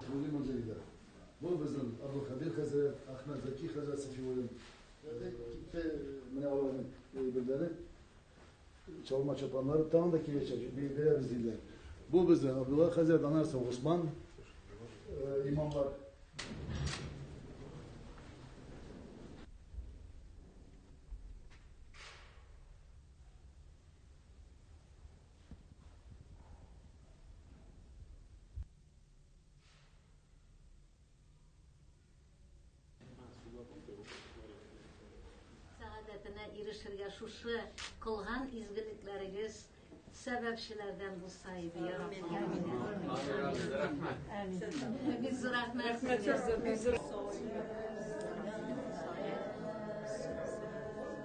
Бүген музейда бу безнең Абдулхәбир хәзрәт, Әхмәт Зәки хәзрәт Сафиуллин. Китте менә аларның әйберләре. Чалма чапаннары тагын да киләчәк, бирәбез диләр. Бу безнең Абдулла хәзрәт, аннан соң Госман имамлар. сәгадәтенә ирешергә шушы кылган изгелекләрегез сәбәпчеләрдән булса иде я раббым бик зур рәхмәт сезгә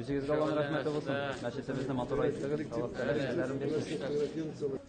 Үзегезгә Аллаһның рәхмәте булсын. Мәчетебезне матур айттыгыз. Аллаһ тәгалә җәзаларын бирсен.